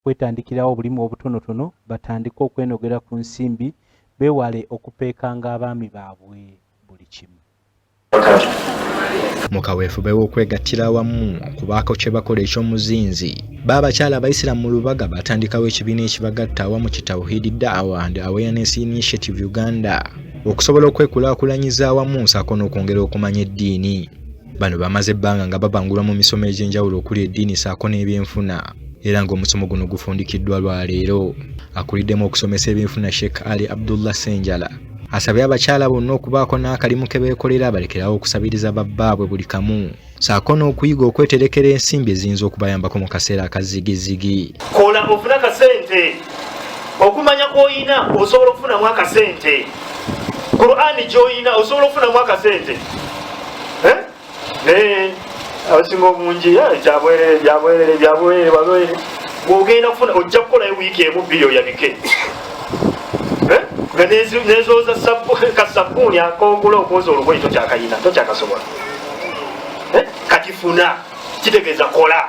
kwetandikirawo obulimu obutonotono batandike okwenogera ku nsimbi beewale okupeekanga abaami baabwe buli kimu mu kaweefube w'okwegattira awamu okubaako kye bakola eky'omuzinzi baabakyala abayisiraamu mu lubaga baatandikawo ekibiina ekibagatta awamu ki tawhidi daawa and awareness initiative uganda okusobola okwekulaakulanyiza awamu nsaako n'okwongera okumanya eddiini Bano bamaze ebbanga nga babangulwa mu misomo egy'enjawulo okuli eddiini saako n'ebyenfuna era ng'omusomo guno gufundikiddwa lwa leero. Akuliddemu okusomesa ebyenfuna Sheikh Ali Abdullah Senjala asabye abakyala bonna okubaako n'akalimu ke beekolera balekerawo okusabiriza babbaabwe buli kamu saako n'okuyiga okweterekera ensimbi eziyinza okubayambako mu kaseera akazigizigi. Kola ofuna kasente. okumanya kwoyina osobola okufunamu akasente qurani gyoyina osobola okufunamu akasente eh? naye abasinga obungi byabwerere byabwerere byabwerere babwerere ogenda kufuna ojja kukolayo wiiki emu bbiri oyabike eh? nga nezooza kasabbuuni akogula okwoza olugoyi tokyakayina tokyakasobola eh? kati funa kitegeeza kola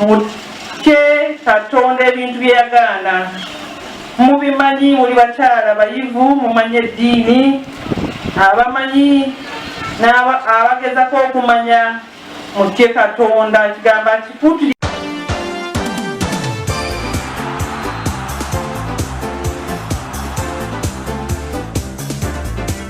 mutye katonda ebintu byeyagaana mubimanyi muli bakyala bayivu mumanyi eddiini abamanyi abagezako okumanya mutye katonda ekigambo akikutu